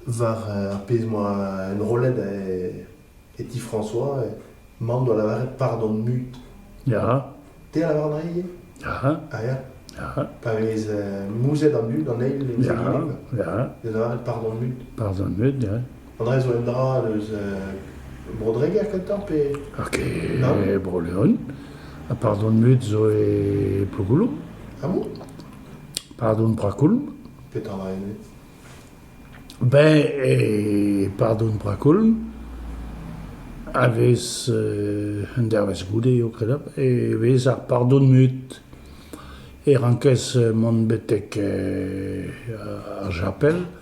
War ar pezh 'moa enrollet e ti François, mamm 'doa lavaret pardon mut. Ya. Te a lavar an ail ivez? Ya. Ah ya? Ya. Pa vez mouzet an dud, an eil, les Ya, ya. Da lavaret pardon mut. Pardon mut, ya. Faudrait zo un dra eus Bro-Dreger kentoc'h pe... Ok, Bro-Leon. Ha pardon mut zo e Plougouloum. Ah bon Pardon Brakoulm. Petra va ene Ben, e Pardon Brakoulm a vez euh, un dervezh goude eo kredap, e vez ar pardon mut. E rankez mont betek euh, ar japel,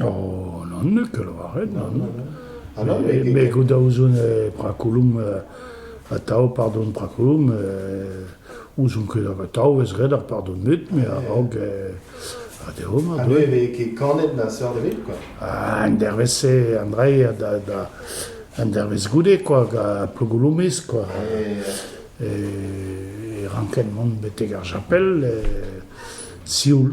Oh, n'en ket lavaret, nann. Me goût da ouzon prakoulom, atav, pardon, prakoulom, ouzon ket atav ez ret ar pardon-mut, me a-raok ha dezho ma doe. Ha ne vez ket kanet na seurt ebet, quoi. Ah, an dervezh-se, Andrei, da, da, an dervezh goude, quoi, gant Plogoulomez, quoi. E, e ranket mont betek ar chapel, e, sioul.